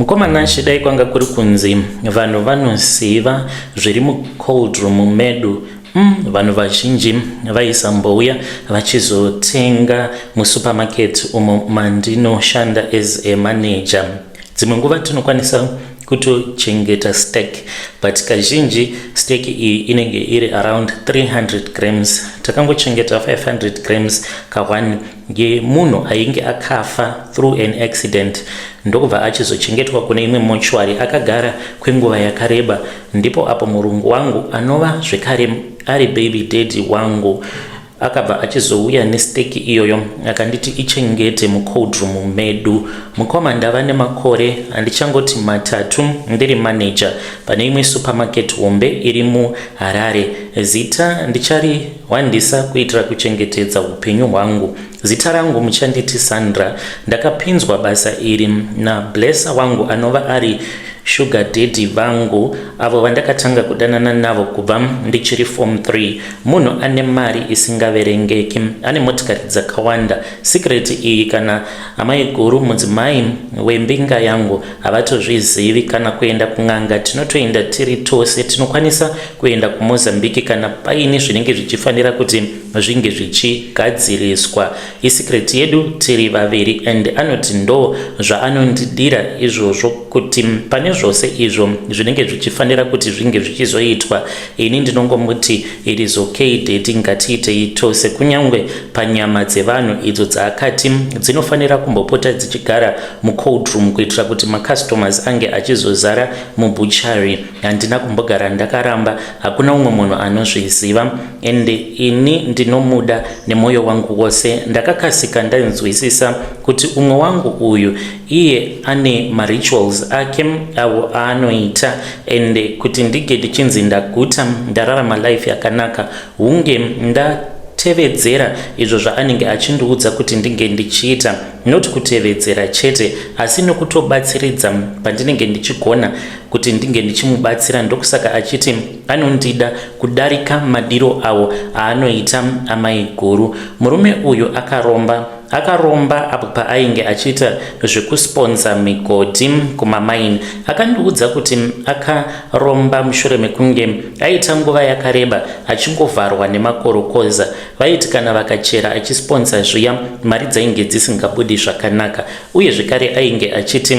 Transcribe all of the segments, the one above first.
Mukoma Nashe dai kwanga kuri kunzi vanhu vanoziva zviri mucold room medu mm, vanhu vazhinji vaisambouya vachizotenga musupermarket umo mandinoshanda as a manager dzimwe nguva tinokwanisa kutochengeta stek but kazhinji stek iyi inenge iri around 300 grams takangochengeta 500 grams kahwani ngemunhu ainge akafa through an accident ndokubva achizochengetwa kune imwe mochwari akagara kwenguva yakareba ndipo apo murungu wangu anova zvekare ari baby daddy wangu akabva achizouya nesteki iyoyo akanditi ichengete mucoldroom medu mukoma ndava nemakore andichangoti matatu ndiri manager pane imwe supermarket hombe iri muharare zita ndichari Wandisa kuitira kuchengetedza hupenyu hwangu. Zita rangu muchanditi Sandra. Ndakapinzwa basa iri na Blesser wangu anova ari sugar daddy vangu avo vandakatanga kudanana navo kubva ndichiri form 3. Munhu ane mari isingaverengeki, ane motikari dzakawanda. Secret iyi kana amai guru mudzimai wembinga yangu havatozvizivi. Kana kuenda kun'anga tinotoenda tiri tose. Tinokwanisa kuenda kuMozambique kana paine zvinenge zvichifanira kuti zvinge zvichigadziriswa. Isecret yedu tiri vaviri and anoti ndo zvaanondidira izvozvo kuti pane zvose izvo zvinenge zvichifanira kuti zvinge zvichizoitwa ini ndinongomuti it is okay deti ngatiitei tose kunyange panyama dzevanhu idzo dzaakati dzinofanira kumbopota dzichigara mucold room kuitira kuti macustomers ange achizozara mubuchary handina kumbogara ndakaramba hakuna umwe munhu anozviziva and ini ndinomuda nemwoyo wangu wose ndakakasika ndainzwisisa kuti umwe wangu uyu iye ane marituals ake avo aanoita and kuti ndige ndichinzi ndaguta ndararama life yakanaka hunge nda kutevedzera izvo zvaanenge achindiudza kuti ndinge ndichiita not kutevedzera chete asi nokutobatsiridza pandinenge ndichigona kuti ndinge ndichimubatsira ndokusaka achiti anondida kudarika madiro awo aanoita amai guru murume uyu akaromba akaromba apo paainge achiita zvekusponza migodhi kumamaini akandiudza kuti akaromba mushure mekunge aita nguva yakareba achingovharwa nemakorokoza vaiti kana vakachera achisponza zviya mari dzainge dzisingabudi zvakanaka uye zvekare ainge achiti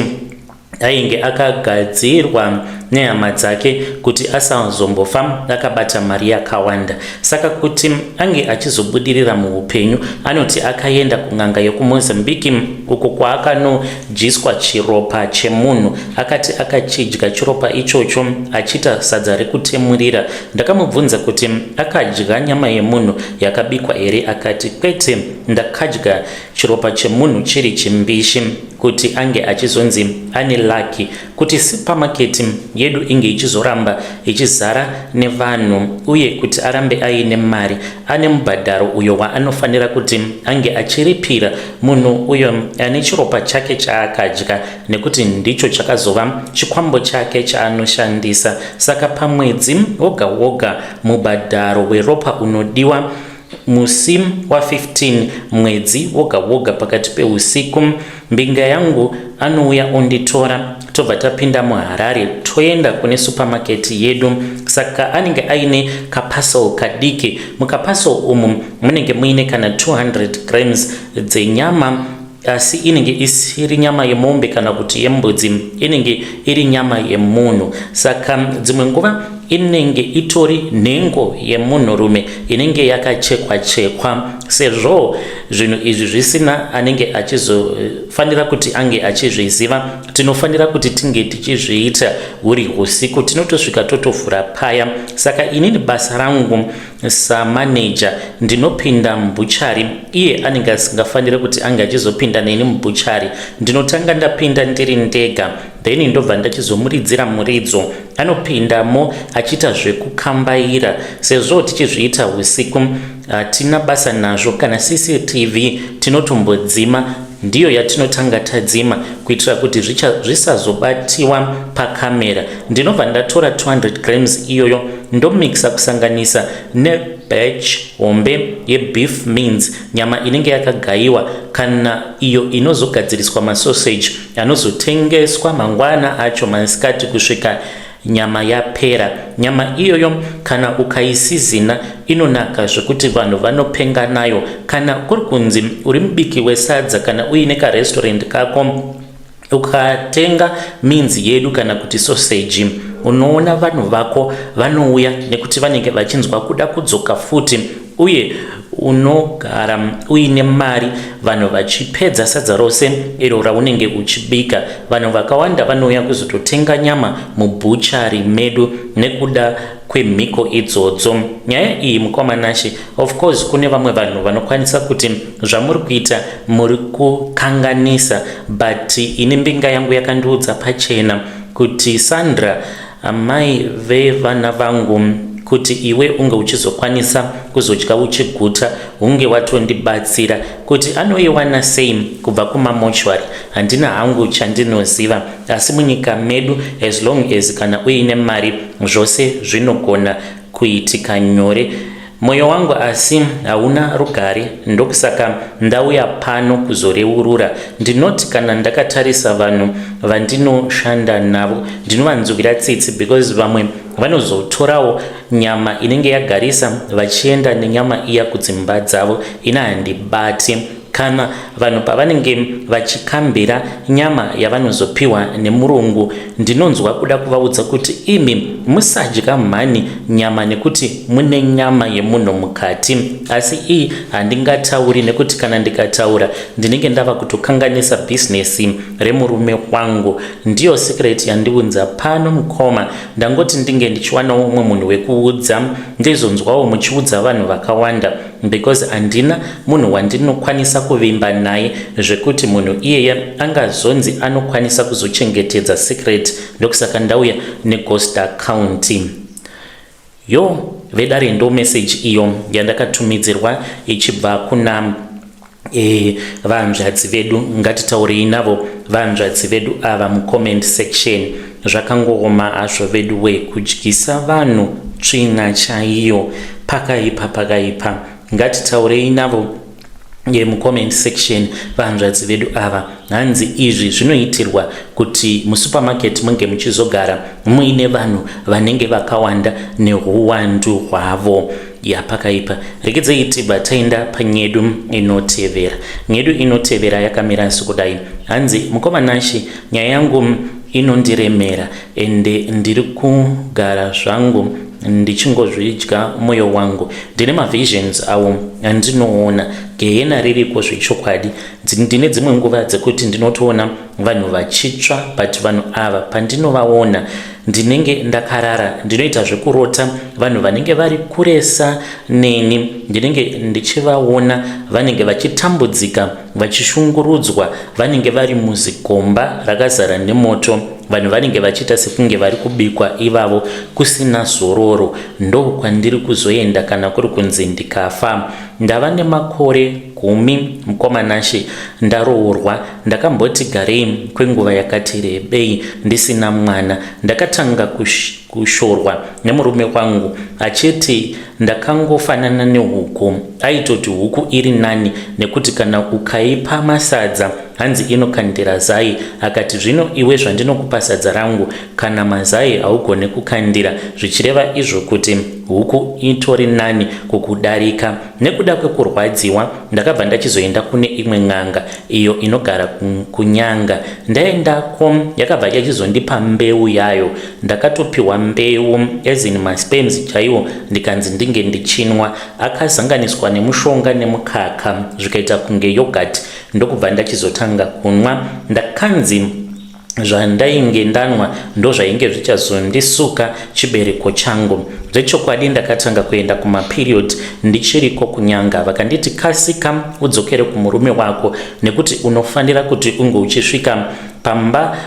ainge akagadzirwa nehama dzake kuti asazombofa akabata mari yakawanda saka kuti ange achizobudirira muupenyu anoti akaenda kun'anga yokumozambique uko kwaakanodyiswa chiropa chemunhu akati akachidya chiropa ichocho achiita sadza rekutemurira ndakamubvunza kuti akadya nyama yemunhu yakabikwa here akati kwete ndakadya Chiropa chemunhu chiri chimbishi kuti ange achizonzi ane lucky kuti supermarket yedu inge ichizoramba ichizara nevanhu uye kuti arambe aine mari ane mubhadharo uyo waanofanira kuti ange achiripira munhu uyo ane chiropa chake chaakadya nekuti ndicho chakazova chikwambo chake chaanoshandisa saka pamwedzi woga woga mubhadharo weropa unodiwa Musi wa 15 mwedzi woga woga pakati peusiku, mbinga yangu anouya onditora tobva tapinda muHarare toenda kune supermarket yedu. Saka anenge aine kaparcel kadiki. Mukaparcel umu munenge muine kana 200 grams dzenyama asi inenge isiri nyama yemombe kana kuti yembudzi inenge iri nyama yemunhu saka dzimwe nguva inenge itori nhengo yemunhurume inenge yakachekwa chekwa sezvo zvinhu izvi zvisina anenge achizofanira kuti ange achizviziva tinofanira kuti tinge tichizviita huri usiku tinotosvika totovhura paya saka inini basa rangu Samaneja, ndinopinda mubhuchari. Iye anenge asingafanire kuti ange achizopinda neni mubhuchari. Ndinotanga ndapinda ndiri ndega, then ndobva ndachizomuridzira muridzo. Anopindamo achiita zvekukambaira. Sezvo tichizviita husiku, hatina basa nazvo. Kana CCTV tinotombodzima, ndiyo yatinotanga tadzima kuitira kuti zvisazobatiwa pakamera. ndinobva ndatora 200 grams iyoyo ndomixa kusanganisa ne batch hombe yebeef means nyama inenge yakagayiwa kana iyo inozogadziriswa masausage anozotengeswa mangwana acho masikati kusvika nyama yapera nyama iyoyo kana ukaisizina inonaka zvekuti vanhu vanopenga nayo kana kuri kunzi uri mubiki wesadza kana uine karestaurant kako Ukatenga minzi yedu kana kuti soseji, unoona vanhu vako vanouya nekuti vanenge vachinzwa kuda kudzoka futi uye unogara uine mari vanhu vachipedza sadza rose iro raunenge uchibika vanhu vakawanda vanouya kuzototenga nyama mubhuchari medu nekuda kwemhiko idzodzo nyaya iyi mukoma nashe Of course kune vamwe vanhu vanokwanisa kuti zvamuri kuita muri kukanganisa but ini mbinga yangu yakandiudza pachena kuti Sandra amai vevana vangu kuti iwe unge uchizokwanisa kuzodya uchiguta hunge watondibatsira kuti anoiwana sei kubva kumamochwari handina hangu chandinoziva asi munyika medu as long as kana uine mari zvose zvinogona kuitika nyore moyo wangu asi hauna rugare ndokusaka ndauya pano kuzoreurura ndinoti kana ndakatarisa vanhu vandinoshanda navo ndinovanzwira tsitsi because vamwe vanozotorawo nyama inenge yagarisa vachienda nenyama iya kudzimba dzavo ina handibati Kana vanhu pavanenge vachikambira nyama yavanozopiwa nemurungu, ndinonzwa kuda kuvaudza kuti imi musadya mhani nyama nekuti mune nyama yemunhu mukati. Asi iyi handingatauri nekuti kana ndikataura ndinenge ndava kutokanganisa bhizinesi remurume wangu. Ndiyo secret yandiunza pano mukoma, ndangoti ndinge ndichiwanawo umwe munhu wekuudza ndizonzwawo muchiudza vanhu vakawanda. because handina munhu wandinokwanisa kuvimba naye zvekuti munhu iyeye angazonzi anokwanisa kuzochengetedza secret ndokusaka ndauya neghost account yo vedare ndo message iyo yandakatumidzirwa ichibva kuna Eh, vahanzvadzi vedu ngatitaurei navo vahanzvadzi vedu ava mucomment section zvakangooma hazvo vedu we kudyisa vanhu tsvina chaiyo pakaipa pakaipa ngatitaurei navo ye mucomment section vahanzvadzi vedu ava hanzi izvi zvinoitirwa kuti musupermarket munge muchizogara muine vanhu vanenge vakawanda nehuwandu hwavo ya pakaipa regedzei tibva taenda panyedu inotevera nyedu inotevera yakamira sekudai hanzi mukoma nashe nyaya yangu inondiremera ende ndiri kugara zvangu ndichingozvidya mwoyo wangu ndine mavisions awo andinoona gehena ririko zvechokwadi ndine dzimwe nguva dzekuti ndinotoona vanhu vachitsva but vanhu ava pandinovaona ndinenge ndakarara ndinoita zvekurota vanhu vanenge vari kuresa neni ndinenge ndichivaona vanenge vachitambudzika vachishungurudzwa vanenge vari muzikomba rakazara nemoto vanhu vanenge vachiita sekunge vari kubikwa ivavo kusina zororo ndokwandiri kuzoenda kana kuri kunzi ndikafa ndava nemakore gumi mukomanashe ndaroorwa Ndakamboti garei kwenguva yakati rebei ndisina mwana. Ndakatanga kush, kushorwa nemurume wangu achiti ndakangofanana nehuku. Aitoti huku iri nani nekuti kana ukaipa masadza hanzi inokandira zai. Akati zvino iwe zvandinokupa sadza rangu kana mazai haugone kukandira zvichireva izvo kuti huku itori nani kukudarika. Nekuda kwekurwadziwa ndakabva ndachizoenda kune imwe n'anga iyo inogara kunyanga. Ndaendako yakabva yachizondipa mbeu yayo. Ndakatopiwa mbeu as in masperms chaiwo ndikanzi ndinge ndichinwa akazanganiswa nemushonga nemukaka zvikaita kunge yogurt ndokubva ndachizotanga kunwa. Ndakanzi zvandainge ndanwa ndozvainge zvichazondisuka chibereko changu zvechokwadi ndakatanga kuenda kumaperiod ndichiriko kunyanga vakanditi kasika udzokere kumurume wako nekuti unofanira kuti unge uchisvika pamba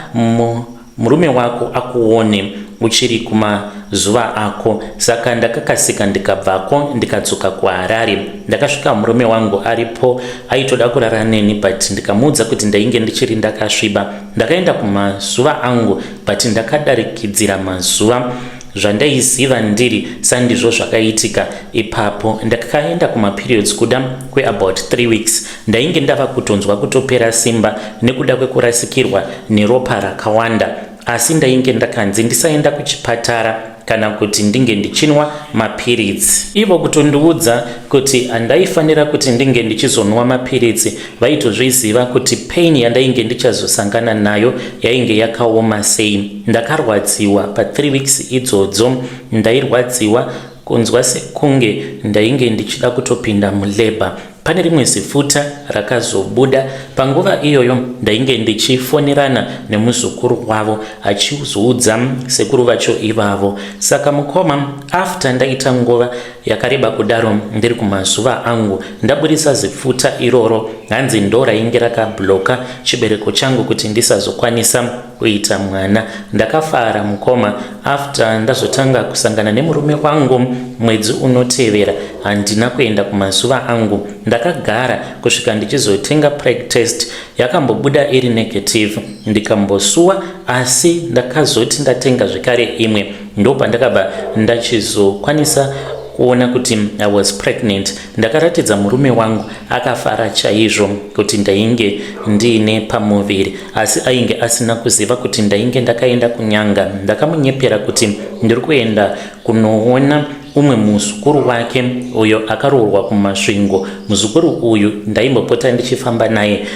murume wako akuone uchiri kumazuva ako saka ndakakasika ndikabvako ndikadzoka kuharare Ndakasvika murume wangu aripo aitoda kurara neni but ndikamuudza kuti ndainge ndichiri ndakasviba. Ndakaenda kumazuva angu but ndakadarikidzira mazuva zvandaiziva ndiri sandizvo zvakaitika ipapo ndakaenda kumaperiods kuda kweabout 3 weeks ndainge ndava kutonzwa kutopera simba nekuda kwekurasikirwa neropa rakawanda asi ndainge ndakanzi ndisaenda kuchipatara kana kuti ndinge ndichinwa mapiritsi ivo kutondiudza kuti handaifanira kuti ndinge ndichizonwa mapiritsi vaitozviziva kuti pain yandainge ndichazosangana nayo yainge yakaoma sei ndakarwadziwa pa3 weeks idzodzo ndairwadziwa Kunzwa sekunge ndainge ndichida kutopinda mulabour. Pane rimwe zifuta rakazobuda. Panguva iyoyo ndainge ndichifonerana nemuzukuru wavo achizoudza sekuru vacho ivavo. Saka mukoma, after ndaita nguva yakareba kudaro ndiri kumazuva angu ndaburitsa zifuta iroro hanzi ndorainge rakabloka chibereko changu kuti ndisazokwanisa kuita mwana ndakafara mukoma after ndazotanga kusangana nemurume wangu mwedzi unotevera handina kuenda kumazuva angu ndakagara kusvika ndichizotenga preg test yakambobuda iri negative ndikambosuwa asi ndakazoti ndatenga zvekare imwe ndopandakabva ndachizokwanisa kuona kuti i was pregnant Ndakaratidza murume wangu akafara chaizvo kuti ndainge ndiine pamuviri asi ainge asina kuziva kuti ndainge ndakaenda kunyanga. Ndakamunyepera kuti ndiri kuenda kunoona umwe muzukuru wake uyo akaroorwa kumasvingo. Muzukuru uyu ndaimbopota ndichifamba naye,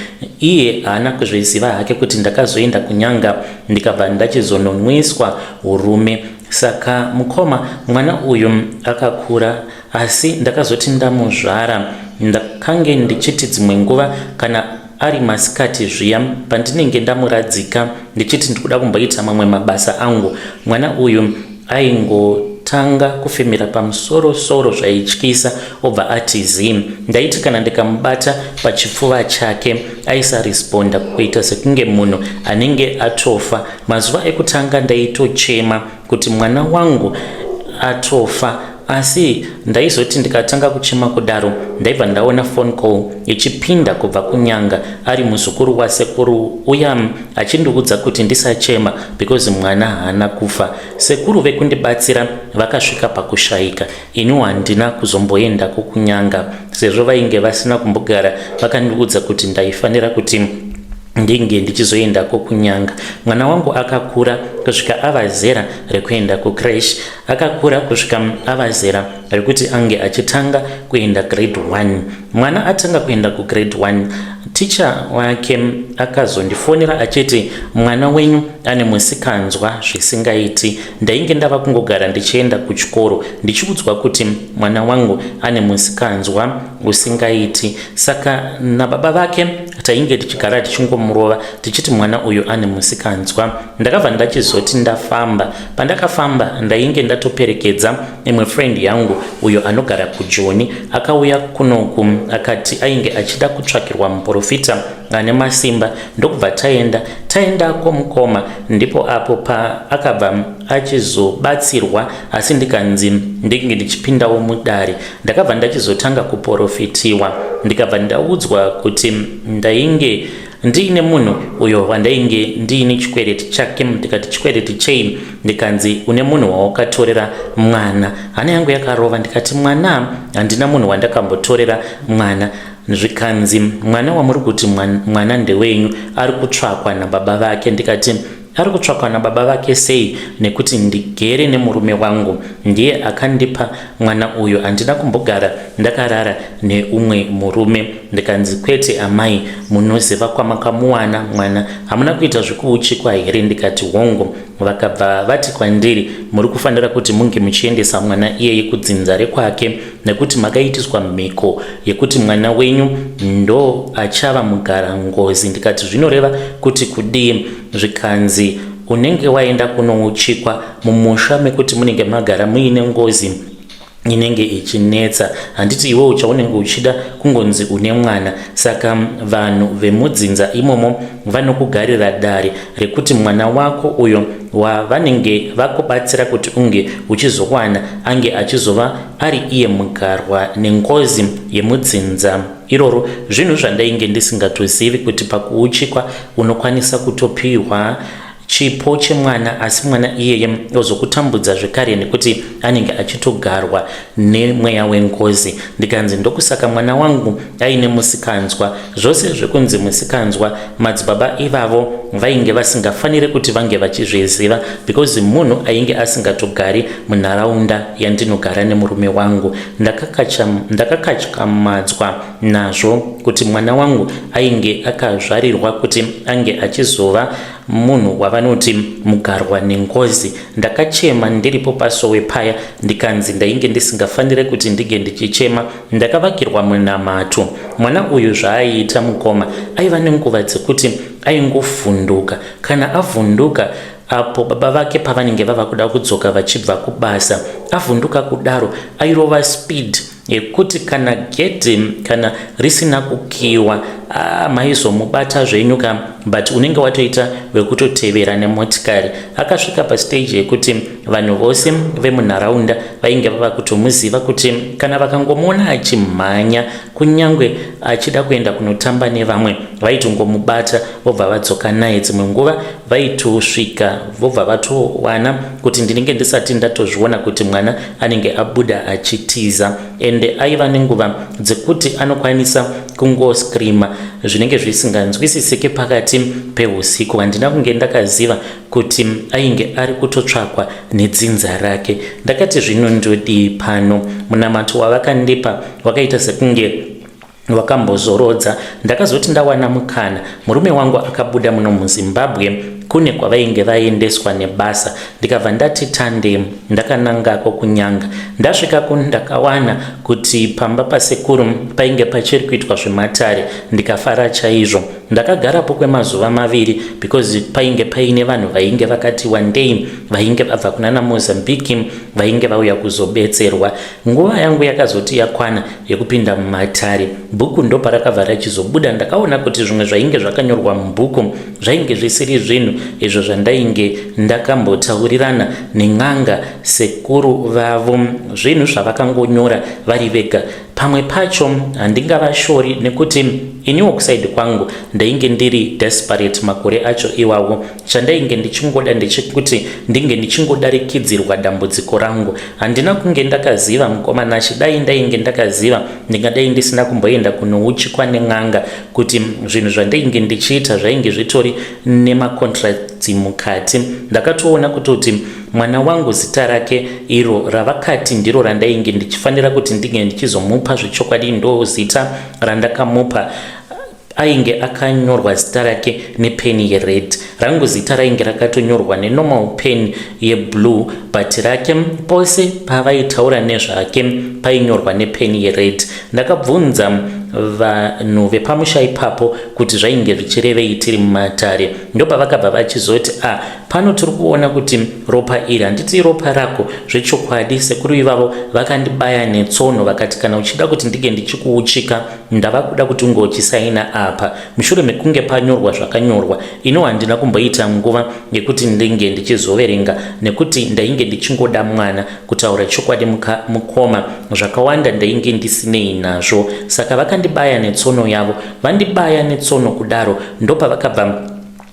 iye haana kuzviziva hake kuti ndakazoenda kunyanga ndikabva ndachizononwiswa urume. Saka mukoma, mwana uyu akakura asi ndakazoti ndamuzvara ndakange ndichiti dzimwe nguva kana ari masikati zviya pandinenge ndamuradzika ndichiti ndikuda kumboita mamwe mabasa angu mwana uyu aingotanga kufemera pamusorosoro zvaityisa obva ati zim ndaiti kana ndikamubata pachipfuva chake aisaresponda kuita sekunge munhu anenge atofa mazuva ekutanga ndaitochema kuti mwana wangu atofa asi ndaizoti ndikatanga kuchema kudaro ndaibva ndaona phone call ichipinda kubva kunyanga ari muzukuru wasekuru uya achindiudza kuti ndisachema because mwana haana kufa sekuru vekundibatsira vakasvika pakushaika iniwo handina kuzomboendako kunyanga sezvo vainge vasina kumbogara vakandiudza kuti ndaifanira kuti ndinge ndichizoendako kunyanga mwana wangu akakura kusvika ava zera rekuenda kucresh akakura kusvika ava zera rekuti ange achitanga kuenda grade 1 mwana atanga kuenda kugrade 1 ticha wake akazondifonera achiti mwana wenyu ane musikanzwa zvisingaiti ndainge ndava kungogara ndichienda kuchikoro ndichiudzwa kuti mwana wangu ane musikanzwa husingaiti saka nababa vake tainge tichigara tichingomurova tichiti mwana uyu ane musikanzwa ndakabva ndachizoti ndafamba pandakafamba ndainge ndatoperekedza imwe friend yangu uyo anogara kujoni akauya kunoku akati ainge achida kutsvakirwa muprofita ane masimba ndokubva taenda taenda kwomukoma ndipo apo paakabva achizobatsirwa asi ndikanzi ndinge ndichipindawo mudare Ndakabva ndachizotanga kuporofitiwa ndikabva ndaudzwa kuti ndainge ndiine munhu uyo wandainge ndiine chikwereti chake ndikati chikwereti chei ndikanzi une munhu wawakatorera mwana hana yangu yakarova ndikati mwana handina munhu wandakambotorera mwana zvikanzi mwana wamuri kuti mwana ndewenyu ari kutsvakwa nababa vake ndikati Ari kutsvakwa nababa vake sei nekuti ndigere nemurume wangu ndiye akandipa mwana uyu handina kumbogara ndakarara neumwe murume ndikanzi kwete amai munoziva kwamakamuwana mwana hamuna kuita zvekuuchikwa here ndikati hongo vakabva vati kwandiri muri kufanira kuti munge muchiendesa mwana iyeye kudzinza rekwake nekuti makaitiswa mhiko yekuti mwana wenyu ndo achava mugara ngozi ndikati zvinoreva kuti kudii zvikanzi unenge waenda kunouchikwa mumusha mekuti munenge magara muine ngozi inenge ichinetsa handiti iwe uchaunenge uchida kungonzi une mwana saka vanhu vemudzinza imomo vanokugarira dare rekuti mwana wako uyo wavanenge vakubatsira kuti unge uchizowana ange achizova ari iye mugarwa nengozi yemudzinza iroro zvinhu zvandainge ndisingatozivi kuti pakuuchikwa unokwanisa kutopihwa chipo chemwana asi mwana iyeye ozokutambudza zvekare nekuti anenge achitogarwa nemweya wengozi ndikanzi ndokusaka mwana wangu aine musikanzwa Zvose zvekunzi musikanzwa madzibaba ivavo vainge vasingafanire kuti vange vachizviziva because munhu ainge asingatogari munharaunda yandinogara nemurume wangu. Ndakakatyamadzwa nazvo kuti mwana wangu ainge akazvarirwa kuti ange achizova munhu wavanoti mugarwa nengozi. Ndakachema ndiripo pasowe paya ndikanzi ndainge ndisingafanire kuti ndinge ndichichema Ndakavakirwa munamato. Mwana uyu zvaaiita mukoma aiva nenguva dzekuti aingofvunduka. Kana avhunduka apo baba vake pavanenge vava kuda kudzoka vachibva kubasa, avhunduka kudaro airova speed yekuti kana gedhi kana risina kukiwa ah, maizomubata zvenyu ka but unenge watoita wekutotevera nemotikari. Akasvika pasteji yekuti Vanhu vose vemunharaunda vainge vava kutomuziva kuti kana vakangomuona achimhanya kunyange achida kuenda kunotamba nevamwe vaitongomubata vobva vadzoka naye. Dzimwe nguva vaitosvika vobva vatowana kuti ndinenge ndisati ndatozviona kuti mwana anenge abuda achitiza, ende aiva nenguva dzekuti anokwanisa kungoscreama zvinenge zvisinganzwisisike pakati pehusiku. Handina kunge ndakaziva kuti ainge ari kutotsvakwa nedzinza rake. Ndakati zvino ndodii pano? Munamato wavakandipa wakaita sekunge wakambozorodza. Ndakazoti ndawana mukana, murume wangu akabuda muno muZimbabwe kune kwavainge vaendeswa nebasa ndikabva ndati tande ndakanangako kunyanga ndasvikako ndakawana kuti pamba pasekuru painge pachiri kuitwa zvematare ndikafara chaizvo Ndakagarapo kwemazuva maviri because painge paine vanhu vainge vakati wandei vainge vabva kunana Mozambique vainge vauya kuzobetserwa. Nguva yangu yakazoti yakwana yekupinda mumatare. Bhuku ndoparakabva rachizobuda ndakaona kuti zvimwe zvainge zvakanyorwa mubhuku zvainge zvisiri zvinhu izvo zvandainge ndakambotaurirana nen'anga sekuru vavo. Zvinhu zvavakangonyora vari vega Pamwe pacho handingavashori nekuti iniwo kusaidi kwangu ndainge ndiri desperate makore acho iwawo. Chandainge ndichingoda ndechekuti ndinge ndichingodarikidzirwa dambudziko rangu. Handina kunge ndakaziva mukoma Nashe, dai ndainge ndakaziva ndingadai ndisina kumboenda kunouchikwa nen'anga kuti zvinhu zvandainge ndichiita zvainge zvitori nemacontracts mukati. Ndakatoona kutoti Mwana wangu zita rake iro ravakati ndiro randainge ndichifanira kuti ndinge ndichizomupa zvechokwadi ndozita randakamupa ainge akanyorwa zita rake nepeni yered rangu zita rainge rakatonyorwa nenormal pen yeblue but rake pose pavaitaura nezvake painyorwa nepeni yered ndakabvunza vanhu vepamusha ipapo kuti zvainge zvichirevei tiri mumatare ndopavakabva vachizoti a ah, Pano tiri kuona kuti ropa iri handiti ropa rako zvechokwadi. Sekuru ivavo vakandibaya netsono vakati kana uchida kuti ndinge ndichikuuchika ndava kuda kuti unge uchisaina apa. Mushure mekunge panyorwa zvakanyorwa, ino handina kumboita nguva yekuti ndinge ndichizoverenga nekuti ndainge ndichingoda mwana. Kutaura chokwadi mukoma, zvakawanda ndainge ndisinei nazvo. Saka vakandibaya netsono yavo, vandibaya netsono kudaro ndopavakabva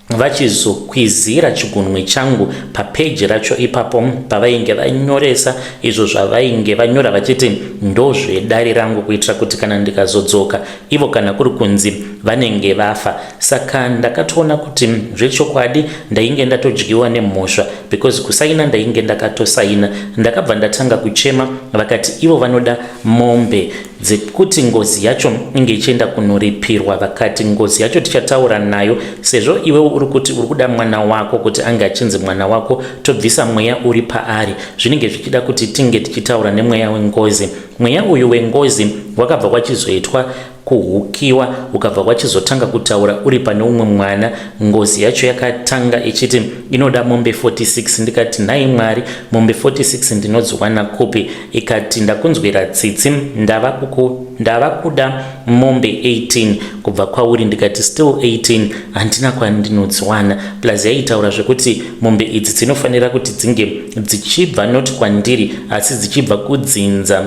vachizokwizira chigunwe changu papeji racho ipapo pavainge vanyoresa izvo zvavainge vanyora vachiti ndozvedare rangu kuitira kuti kana ndikazodzoka ivo kana kuri kunzi vanenge vafa saka ndakatoona kuti zvechokwadi ndainge ndatodyiwa nemhosva because kusaina ndainge ndakatosaina ndakabva ndatanga kuchema vakati ivo vanoda mombe dzekuti ngozi yacho inge ichienda kunoripirwa vakati ngozi yacho tichataura nayo sezvo iwewo uri kuti uri kuda mwana wako kuti ange achinzi mwana wako tobvisa mweya uri paari zvinenge zvichida kuti tinge tichitaura nemweya wengozi mweya uyu wengozi wakabva kwachizoitwa kuhukiwa ukabva kwachizotanga kutaura uri pane umwe mwana ngozi yacho yakatanga ichiti inoda mombe 46 ndikati nhai mwari mombe 46 ndinodziwana kupi ikati ndakunzwira tsitsi ndava kuku ndava kuda mombe 18 kubva kwauri ndikati still 18 handina kwandinodziwana plus yaitaura zvekuti mombe idzi dzinofanira kuti dzinge dzichibva not kwandiri asi dzichibva kudzinza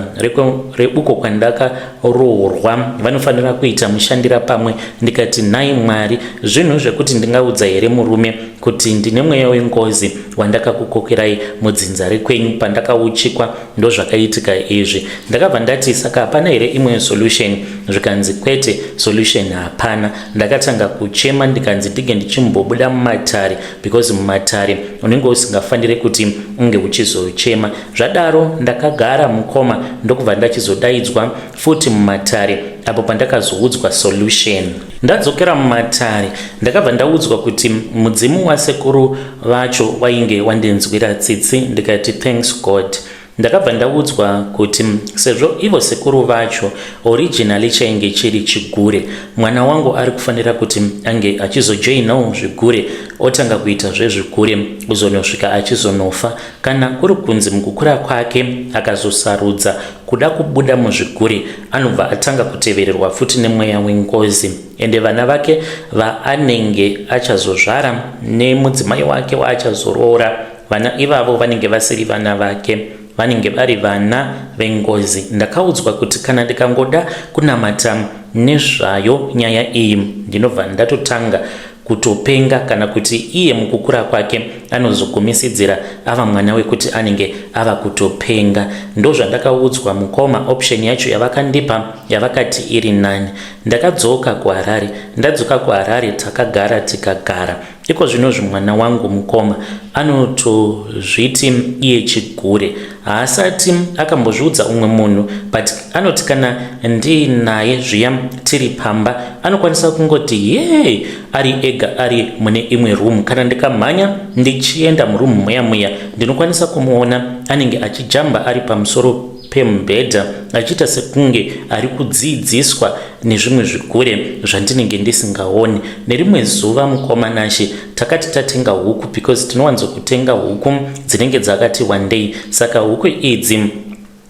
reuko kwandakaroorwa vanofanira kuita mushandira pamwe ndikati nhai mwari zvinhu zvekuti ndingaudza here murume kuti ndine mweya wengozi wandakakukokerai mudzinza rekwenyu pandakauchikwa ndozvakaitika izvi ndakabva ndati saka hapana here imwe solution zvikanzi kwete solution hapana ndakatanga kuchema ndikanzi ndinge ndichimbobuda mumatare because mumatare unenge usingafanire kuti unge uchizochema zvadaro ndakagara mukoma ndokubva ndachizodaidzwa futi mumatare apo pandakazoudzwa solution. Ndadzokera mumatare ndakabva ndaudzwa kuti mudzimu wasekuru vacho wainge wandinzwira tsitsi ndikati thanks God. Ndakabva ndaudzwa kuti sezvo ivo sekuru vacho originally chainge chiri chigure, mwana wangu ari kufanira kuti ange achizojoinawo zvigure otanga kuita zvezvigure kuzonosvika achizonofa Kana kuri kunzi mukukura kwake akazosarudza kuda kubuda muzviguri, anobva atanga kutevererwa futi nemweya wengozi. Ende vana vake vaanenge achazozvara nemudzimai wake waachazoroora, vana ivavo vanenge vasiri vana vake, vanenge vari vana vengozi. Ndakaudzwa kuti kana ndikangoda kunamata nezvayo nyaya iyi, ndinobva ndatotanga kutopenga kana kuti iye mukukura kwake anozogumisidzira ava mwana wekuti anenge ava kutopenga ndozvandakaudzwa mukoma option yacho yavakandipa yavakati iri nani ndakadzoka kuharare ndadzoka kuharare takagara tikagara iko zvinozvi mwana wangu mukoma anotozviti iye chigure Haasati akambozviudza umwe munhu but anoti kana ndiinaye zviya tiri pamba anokwanisa kungoti hee ari ega ari mune imwe room. Kana ndikamhanya ndichienda muroom muya muya ndinokwanisa kumuona anenge achijamba ari pamusoro pemubhedha achiita sekunge ari kudziidziswa nezvimwe zvigure zvandinenge ndisingaoni nerimwe zuva mukoma nashe takati tatenga huku because tinowanzo kutenga huku dzinenge dzakati wandei saka huku idzi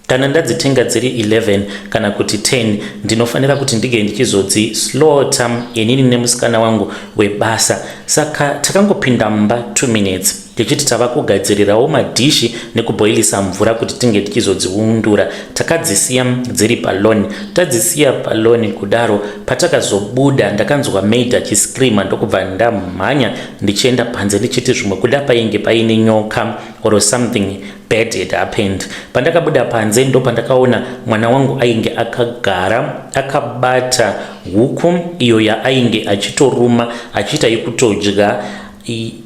kana ndadzitenga dziri 11 kana kuti 10 ndinofanira kuti ndige ndichizodzi slota inini nemusikana wangu webasa saka takangopinda mumba 2 minutes Tichiti tava kugadzirirawo madhishi nekubhoilisa mvura kuti tinge tichizodziundura. Takadzisiya dziri palawn. Tadzisiya palawn kudaro, patakazobuda ndakanzwa maid achiscreamer ndokubva ndamhanya ndichienda panze ndichiti zvimwe kuda painge paine nyoka or something bad had happened. Pandakabuda panze ndopandakaona mwana wangu ainge akagara akabata huku iyo yaainge achitoruma achiita yekutodya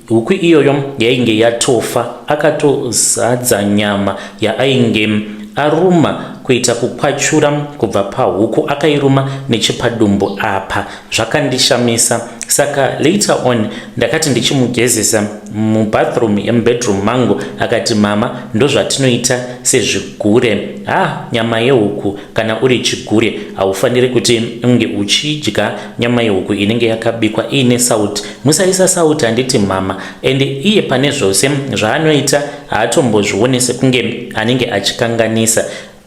huku iyoyo yainge yatofa akatozadza nyama yaainge aruma kuita kukwachura kubva pahuku akairuma nechepadumbu apa zvakandishamisa saka later on ndakati ndichimugezesa mubathroom yemubedroom mangu akati mama ndozvatinoita sezvigure ha ah, nyama yehuku Kana uri chigure haufaniri kuti unge uchidya nyama yehuku inenge yakabikwa iine sauti. Musaisa sauti handiti mhama. And iye pane zvose zvaanoita haatombozvione sekunge anenge achikanganisa.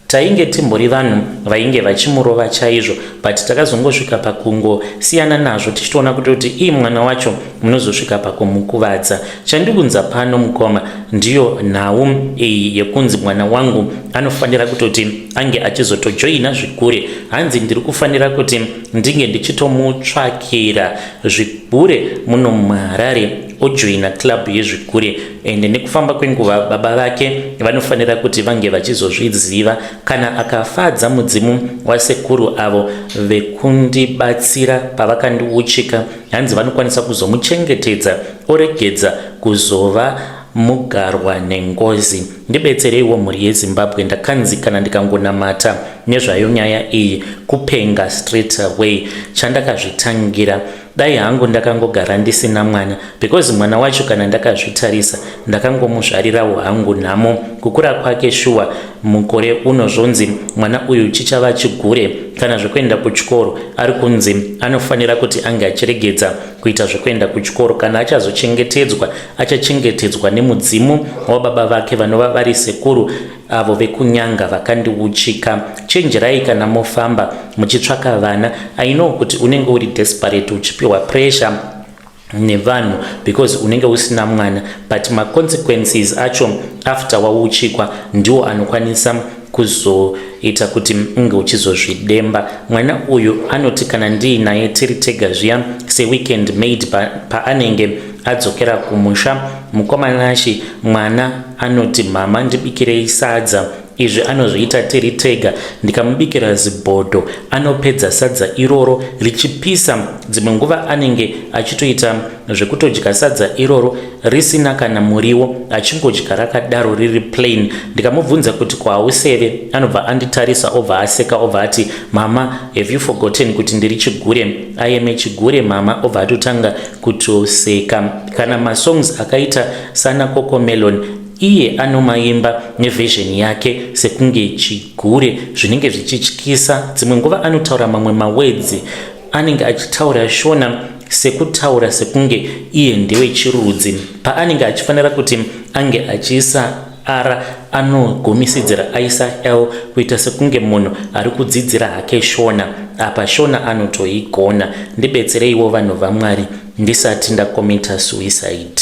Tainge timbori vanhu vainge vachimurova chaizvo but takazongosvika pakungo siyana nazvo tichitoona kuti kuti ii mwana wacho munozosvika pakumukuvadza. Chandikunza pano mukoma ndiyo nhau iyi yekunzi mwana wangu anofanira kutoti ange achizotojoina zvigure hanzi ndiri kufanira kuti ndinge ndichitomutsvakira zvigure muno muharare ojoina club yezvigure and nekufamba kwenguva baba vake vanofanira kuti vange vachizozviziva kana akafadza mudzimu wasekuru avo vekundibatsira pavakandiuchika hanzi vanokwanisa kuzomuchengetedza oregedza kuzova Mugarwa nengozi ndibetsereiwo mhuri yezimbabwe ndakanzi kana ndikangonamata nezvayo nyaya iyi kupenga straight away chandakazvitangira dai hangu ndakangogara ndisina mwana because mwana wacho kana ndakazvitarisa ndakangomuzvarirawo hangu nhamo kukura kwake shuwa mukore uno zvonzi mwana uyu chichava chigure kana zvekuenda kuchikoro ari kunzi anofanira kuti ange achiregedza kuita zvekuenda kuchikoro kana achazochengetedzwa achachengetedzwa nemudzimu wababa vake vanova vari sekuru avo vekunyanga vakandiuchika chenjerai kana mofamba muchitsvaka vana i know kuti unenge uri desperate uchipiwa pressure nevanhu because unenge usina mwana but maconsequences acho after wauchikwa ndiwo anokwanisa kuzoita kuti unge uchizozvidemba. Mwana uyu anoti kana ndiinaye tiri tega zviya seweekend maid paanenge pa adzokera kumusha, mukoma Nashy mwana anoti mhama ndibikirei sadza izvi anozviita tiri tega ndikamubikira zibhodho anopedza sadza iroro richipisa dzimwe nguva anenge achitoita zvekutodya sadza iroro risina kana muriwo achingodya rakadaro riri plain ndikamubvunza kuti kwauseve anobva anditarisa obva aseka obva ati mama have you forgotten kuti ndiri chigure ayeme chigure mama obva atotanga kutoseka kana masongs akaita sana cocomelon iye anomaimba nevision yake sekunge chigure zvinenge zvichityisa dzimwe nguva anotaura mamwe mawedzi anenge achitaura shona sekutaura sekunge iye ndewechirudzi paanenge achifanira kuti ange achiisa r anogumisidzira aisa l kuita sekunge munhu ari kudzidzira hake shona apa shona anotoigona ndibetsereiwo vanhu vamwari ndisati ndakomita suicide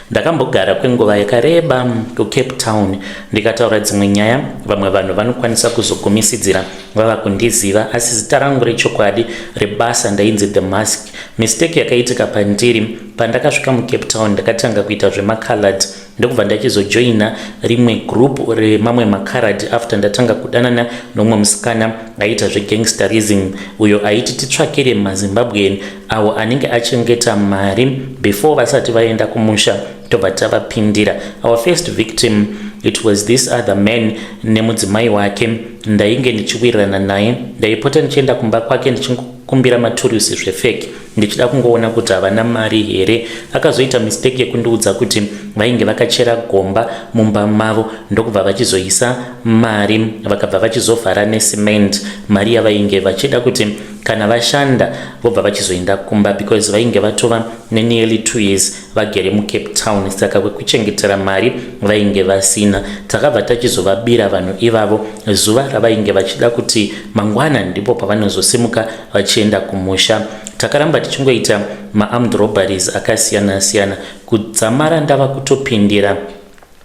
Ndakambogara kwenguva yakareba kuCape Town ndikataura dzimwe nyaya, vamwe vanhu vanokwanisa kuzogumisidzira vava kundiziva asi zita rangu rechokwadi rebasa ndainzi The Mask. Mistake yakaitika pandiri, pandakasvika muCape Town ndakatanga kuita zvemaCalad ndokubva ndachizojoina rimwe group remamwe maCalad after ndatanga kudanana nomumwe musikana aiita zvegangsterism uyo aiti titsvakire maZimbabwean awo anenge achengeta mari before vasati vaenda kumusha tobva tavapindira our first victim it was this other man nemudzimai wake ndainge ndichiwirirana naye ndaipota ndichienda kumba kwake ndichingokumbira maturusi zvefeki ndichida kungoona kuti havana mari here akazoita mistake yekundiudza kuti vainge vakachera gomba mumba mavo ndokubva vachizoisa mari vakabva vachizovhara necement mari yavainge vachida kuti kana vashanda vobva vachizoenda kumba because vainge vatova nenearly two years vagere mucape town saka kwekuchengetera mari vainge vasina takabva tachizovabira vanhu ivavo zuva ravainge vachida kuti mangwana ndipo pavanozosimuka vachienda kumusha takaramba tichingoita maarmed robberies akasiyana siyana kudzamara ndava kutopindira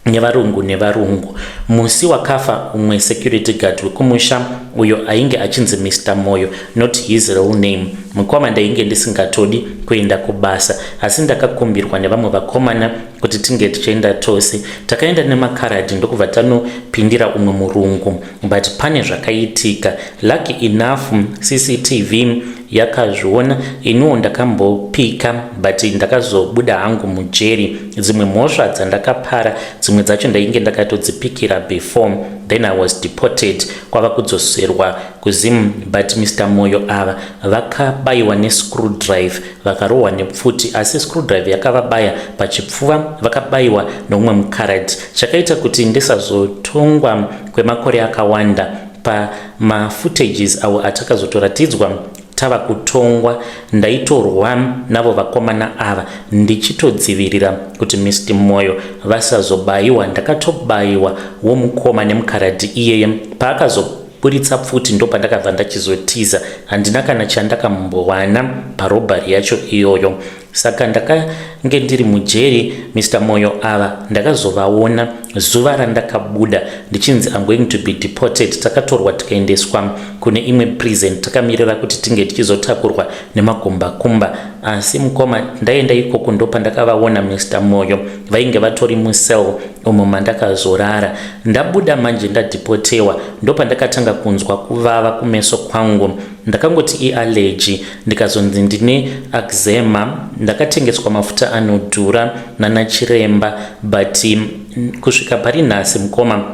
nevarungu nevarungu musi wakafa umwe security guard wekumusha uyo ainge achinzi mr moyo not his real name mukoma ndainge ndisingatodi kuenda kubasa asi ndakakumbirwa nevamwe vakomana kuti tinge tichienda tose takaenda nemakaradi ndokubva tanopindira umwe murungu but pane zvakaitika lucky enough cctv yakazviona iniwo ndakambopika but ndakazobuda hangu mujeri dzimwe mhosva dzandakapara dzimwe dzacho ndainge ndakatodzipikira before then i was deported kwava kudzoserwa kuzim but mr moyo ava vakabayiwa nescrew drive vakarohwa nepfuti asi screw drive yakavabaya pachipfuva vakabayiwa nomumwe mukarad Chakaita kuti ndisazotongwa kwemakore akawanda pamafootages awo atakazotoratidzwa tava kutongwa ndaitorwa navo vakomana ava ndichitodzivirira kuti mist moyo vasazobayiwa ndakatobayiwa womukoma nemukaradhi iyeye paakazoburitsa pfuti ndopandakabva ndachizotiza handina kana chandakambowana parobhari yacho iyoyo Saka ndakange ndiri mujeri Mister Moyo ava ndakazovaona zuva randakabuda ndichinzi I'm going to be deported takatorwa tikaendeswa kune imwe prison takamirira kuti tinge tichizotakurwa nemakumbakumba asi mukoma ndaenda ikoko ndopa ndakavaona Mister Moyo vainge vatori mucell umo mandakazorara ndabuda manje ndadeportewa ndopa ndakatanga kunzwa kuvava kumeso kwangu ndakangoti iallegy ndikazonzi ndine axema ndakatengeswa mafuta anodhura nanachiremba but kusvika pari nhasi mukoma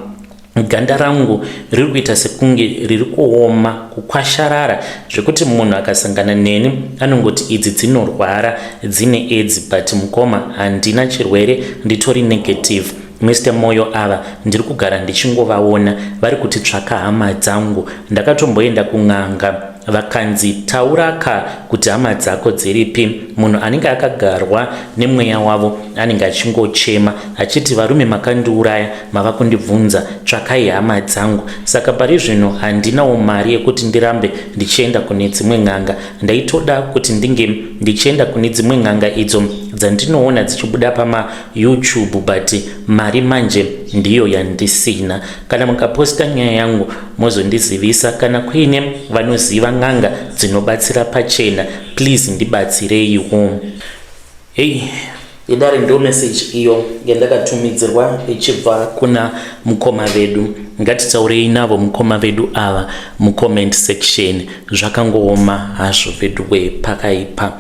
ganda rangu riri kuita sekunge riri kuoma kukwasharara zvekuti munhu akasangana neni anongoti idzi dzinorwara dzine edzi but mukoma handina chirwere nditori negative Mister Moyo ava ndiri kugara ndichingovaona vari kuti tsvaka hama dzangu ndakatomboenda kun'anga vakanzi taura ka kuti hama dzako dziripi munhu anenge akagarwa nemweya wavo anenge achingochema achiti varume makandiuraya mava kundibvunza tsvakai hama dzangu saka pari zvino handinawo mari yekuti ndirambe ndichienda kune dzimwe n'anga ndaitoda kuti ndinge ndichienda kune dzimwe n'anga idzo dzandinoona dzichibuda pama YouTube but mari manje ndiyo yandisina kana mukaposta nyaya yangu mozondizivisa kana kuine vanoziva n'anga dzinobatsira pachena please ndibatsireiwo hei idare ndo message iyo yandakatumidzirwa ichibva kuna mukoma vedu ngatitaurei navo mukoma vedu ava mucomment section zvakangooma hazvo veduwe pakaipa